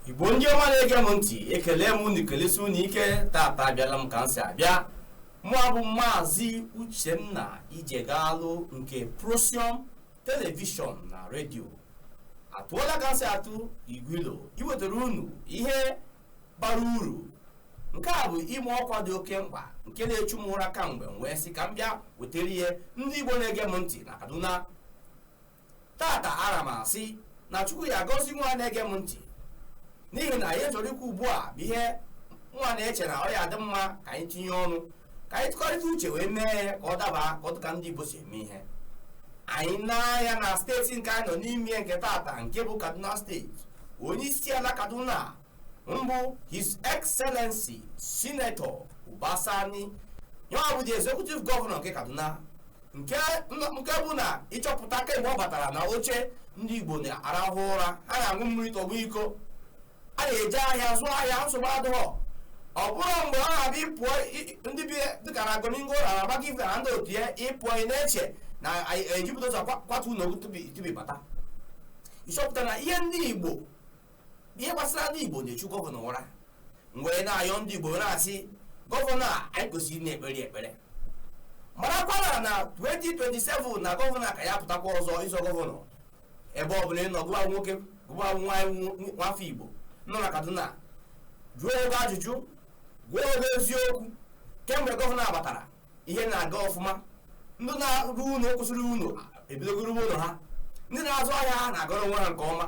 igbo ndị ọma na-ege m ntị ekelee m unu kelesi unu ike tata abịala m ka m si abịa mụa bụ maazị uchenna ijegalụ nke prosium televishọn na redio atụọla ka m si atụ igwilo iwetara unu ihe bara uru nke a bụ ịma ọkwa dị oke mkpa nke na-echu m ụra kamgbe m wee sị ka m bịa wetara ya ndị igbo na-ege m ntị na kaduna tata ara m asị na chukwu ya agọzi nwa na-ege m ntị n'ihi na ihe a chọrọ ikwu ugbu a bụ ihe mụwa na-eche na ọ ya adị mma ka anyị tinye ọnụ ka anyị tụkọrịta uche wee mee ya ka ọ daba ka ọ dịka ndị Igbo si eme ihe anyị n'anya na steeti nke anyị nọ n'ime ya nke tata nke bụ Kaduna steeti onye isi ala Kaduna mbụ His Excellency Senator Uba Sani ya ọ bụ the executive governor nke Kaduna nke nke bụ na ịchọpụta kemgbe ọ batara na oche ndị Igbo na-arahụ ụra ha na-aṅụ mmiri tọgbọ iko a na-eje ahịa zụọ ahịa nsogbu adịghọ ọ bụrọ mgbe ọ na-abụ ị pụọ i- ndị bi dịka na gonin gora gbagyi villa na ndị otu ya ị pụọ ị na-eche na a ya eji bulldozer kwa- kwatu ụlọ gị tupu tupu ị bata ịchọpụta na ihe ndị igbo ihe gbasara ndị igbo na-echu gọvanọ ụra m wee na-ayọ ndị igbo na-asị gọvanọ a anyị kwesịrị ịna-ekpere ya ekpere marakwa na na 2027 na gọvanọ a ka ya apụtakwa ọzọ ịzọ gọvanọ ebe ọ bụla ị nọ gụwa nwoke gụwa nwaanyị nwafọ igbo nọ na kaduna jụọ onwe gị ajụjụ gwa onwe gị eziokwu kemgbe gọvanọ a batara ihe na-aga ọfụma ndị na-arụ ụlọ kwụsịrị ụlọ ebidogo ịrụ ụlọ ha ndị na-azụ ahịa ha na-agọrọ onwe ha nke ọma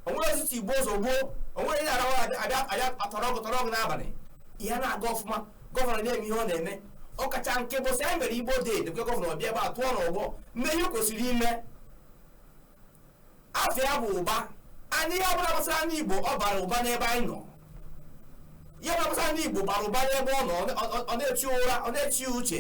onwere eziti igbo ụzọ gboo onwere ihe arawa abịa atọrọ ọgụ tọrọ ọgụ n'abalị ihe na-aga ọfụma gọvanọ na-eme ihe ọ na-eme ọkacha nke bọsị anyị mere igbo day dekwe gọvanọ bịa ebe a tụọ n'ọgbọ mee ihe kwesịrị ime afa ya bụ ụba and ihe ọbụla gbasara ndị Igbo ọ bara ụba n'ebe anyị nọ ihe ọbụla gbasara ndị Igbo bara ụba n'ebe ọ nọ ọ na-eti ụra ọ na-eti uche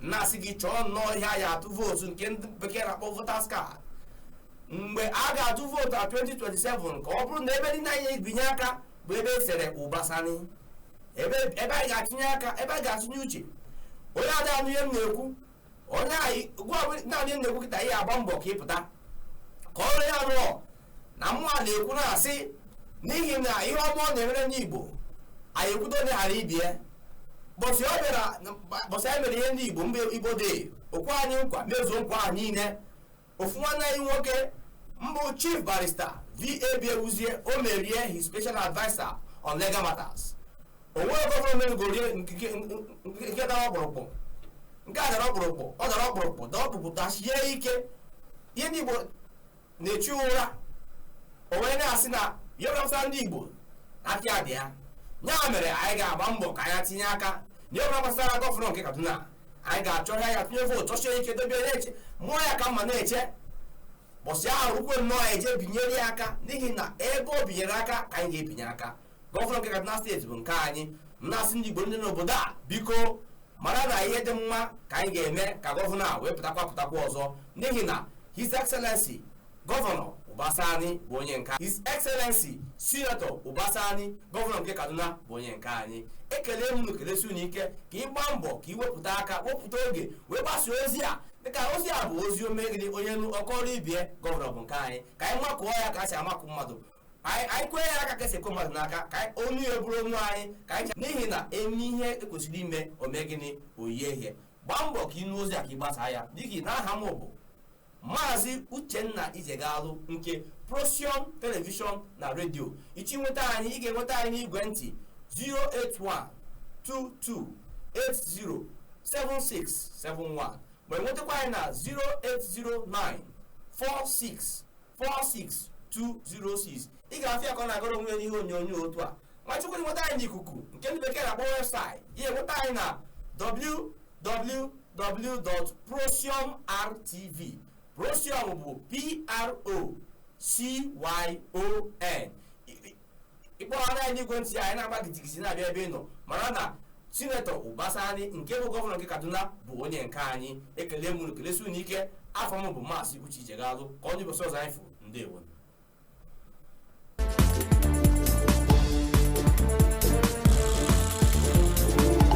na-asị gị chọọ nnọọ ihe a ya eji atụ vootu nke ndị bekee na-akpọ voters card mgbe a ga-atụ vootu na 2027 ka ọ bụrụ na ebe niile anyị ya ebinye aka bụ ebe e sere ụba sani ebe anyị ga-etinye aka ebe a ga-etinye uche onye ada anụ ihe m na-ekwu onye anyị gwa bụ naanị na-ekwu kịta ihe agba mbọ ka ịpụta ka ọ rụọ ya rụọ na mmụọ a na-ekwu na-asị n'ihi na ihe ọma ọ na-emere ndị igbo anyị ekwudo onye aghara ibe ya bọsị ọ bịara bọsị anyị mere ihe ndị igbo mbụ igbo day o kwe anyị nkwa mezuo nkwa ahụ niile ofu nwanne anyị nwoke bụ chief barista v.a.b ewuzie o mere ya his special adviser on legal matters o nwere gọvanọ megoro ihe nke dara ọkpụrụkpụ nke a dara ọkpụrụkpụ ọ dara ọkpụrụkpụ dara ọkpụrụkpụ tasie ike ihe ndị igbo na-echu ụra o wee na-asị na ya ọpụta ndị igbo aka ya dị ya ya mere anyị ga-agba mbọ ka anyị tinye aka na ya ọpụta gbasara gọvanọ nke kaduna anyị ga-achọ ya ya tụnye vootu chọsie ike dobe ya na-eche mụọ ya ka mma na-eche ụbọsị ahụ rukwe nnọọ anyị jee binyere ya aka n'ihi na ebe o binyere aka ka anyị ga-ebinye aka gọvanọ nke kaduna steeti bụ nke anyị m na-asị ndị igbo ndị n'obodo a biko mara na ihe dị mma ka anyị ga-eme ka gọvanọ a wee pụtakwa pụtakwa ọzọ n'ihi na his excellency Gọvanọ Uba Sani bụ onye nke His Excellency Sinetọ Uba Sani gọvanọ nke Kaduna bụ onye nke anyị ekele m unu kelesi unu ike ka ị gbaa mbọ ka ị wepụta aka wepụta oge wee gbasa ozi a dịka ozi a bụ ozi o mee gịnị onye nụ ọ kọọrọ ibe ya gọvanọ bụ nke anyị ka anyị makụọ ya ka a si amakụ mmadụ anyị anyị kwee ya aka ka esi ekwe mmadụ n'aka ka anyị ọnụ ya bụrụ ọnụ anyị ka anyị cha- n'ihi na eme ihe ekwesịrị ime o mee gịnị o yie ihe gbaa mbọ ka ị nụ ozi a ka ị gbasaa ya dịka na aha m bụ maazị uchenna ijegalụ nke procyon telivishọn na redio ị chọọ inweta anyị ị ga-enweta anyị n'igwe ntị 08122807671 ma enwetakwa anyị na 080946 46206 ị ga-afụ ya ka ọ na-agara onwe ya n'ihe onyonyo otu a ma ị chọkwuo inweta anyị n'ikuku nke ndị bekee na-akpọ webụsaịtị ị ya-enweta anyị na www.procyon.rtv procyon bụ p-r-o-c-y-o-n ị kpọrọnụ anyị n'igwe ntị anyị na-agba gidigidi na-abịa ebe ị nọ mara na sinetọ uba sani nke bụ gọvanọ nke kaduna bụ onye nke anyị ekele m unu kelesi unu ike afa m bụ maazị uche ijegalụ ka ọ dị ụbọsị ọzọ anyị fụ ndewo